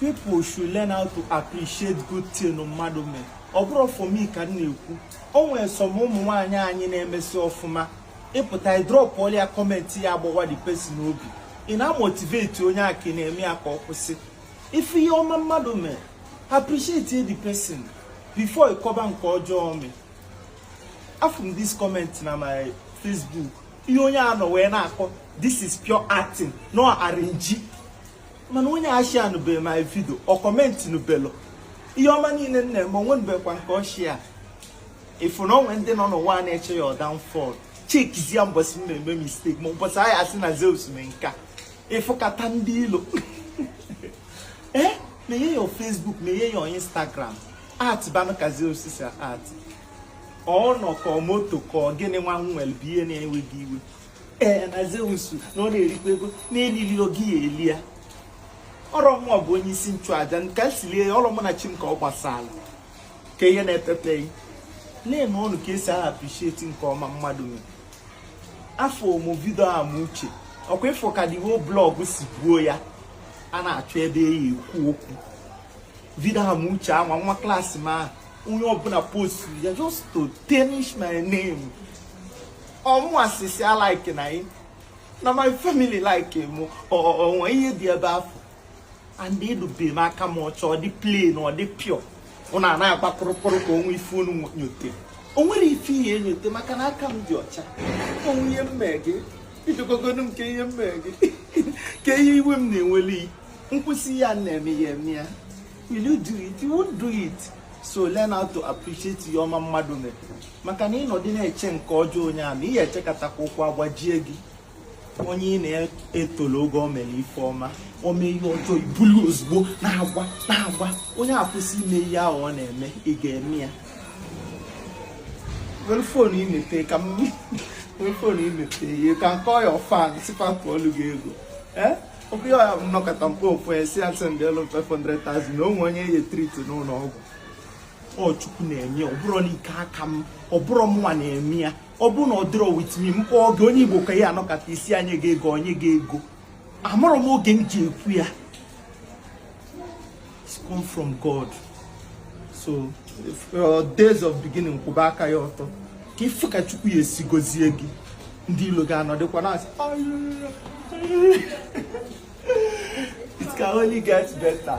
people should learn how to appreciate good thing mmadụ mee ọ bụrọ for me ka m na-ekwu o nwere some ụmụ nwaanyị anyị na-emesi ọfụma ị pụta drop ọlịa comment ya agbawa the person obi ị na-amotivate onye a ka ị na-eme ya ka ọ kwụsị ị fụ ihe ọma mmadụ mee appreciate the person before ị kọba nke ọjọọ o mee afụ m this comment na my Facebook ihe onye a nọ wee na-akọ this is pure acting na ọ arrange mana onye eshare nụbeghị my video ọ comment nụbelọ ihe ọma niile m na-eme o nwe nụbekwa nke ọ share ị fụ na o nwe ndị nọ n'ụwa a na-eche your downfall chekizie mbọsị m na-eme mistake ma ụbọchị anyị asị na zeus mee nka ị fụkata ndị ilo ee menye ya facebook menye ya instagram act banụ ka zeus si act ọ ụnọ ka ọ moto ka ọ gịnị nwa nwere bụ ihe na-ewe gị iwe ee na Zeus na ọ na-erikwa ego na-elili ọ gị ya eli ya ọ rọ mụ bụ onye isi nchụaja nke si lie ya ọ rọ mụ na chi m ka ọ gbasara ka ihe na-epepeghị na-eme ọnụ ka esi appreciate nke ọma mmadụ mere afụ m video a ma uche ọkwa ị fụ ka the whole blog si buo ya a na-achọ ebe ya ekwu okwu video a ma uche ama nwa class m ahụ onye ọbụla post ya just to tarnish my name ọmụwa sisi a like na anyị na my family like m o nwe ihe dị ebe afụ and edobe m aka m ọcha ọ dị plain ọ dị pure unu a na-agba kpụrụkpụrụ ka o nwe ife unu nyote o nwerọ ife ị ya enyote maka na aka m dị ọcha o nwe ihe m mee gị ijegogodo m kee ihe m mee gị kee ihe iwe m na-eweli m kwụsị ihe a m na-eme ị ya eme ya will you do it you won't do it so learn how to appreciate ihe ọma mmadụ mere maka na ị nọdị na-eche nke ọjọọ onye ahụ ị ya echekatakwa ụkwụ agbajie gị onye ị na-etolo oge o mere ife ọma o mee ihe ọjọọ i bulu ozugbo na-agwa na-agwa onye a kwụsị ime ihe ahụ ọ na-eme ị ga-eme ya were phone i mepee ka m were phone i mepee you can call your fans sị fa ka ọlụ gị ego eh? okwu ya ọya bụ m nọkata m kpọọ ofu sị ya sendielu 500,000 na o nwe onye a ya etreat n'ụlọ ọgwụ ọ chukwu na-eme ya, ọ bụrọ na ike aka m ọ bụrọ mụnwa na-eme ya ọ bụrụ na ọ dịrọ with me m kpọọ gị onye igbo ka ị ya anọkata ị sị ya nye gị ego o nye gị ego amarọ m oge m ji ekwu ya It's come from God. So if your days of beginning kwụba aka ya ọtọ ka ị fụ ka Chukwu ya esi gozie gị ndị ilo ga-anọdịkwa na-asị it can only get better.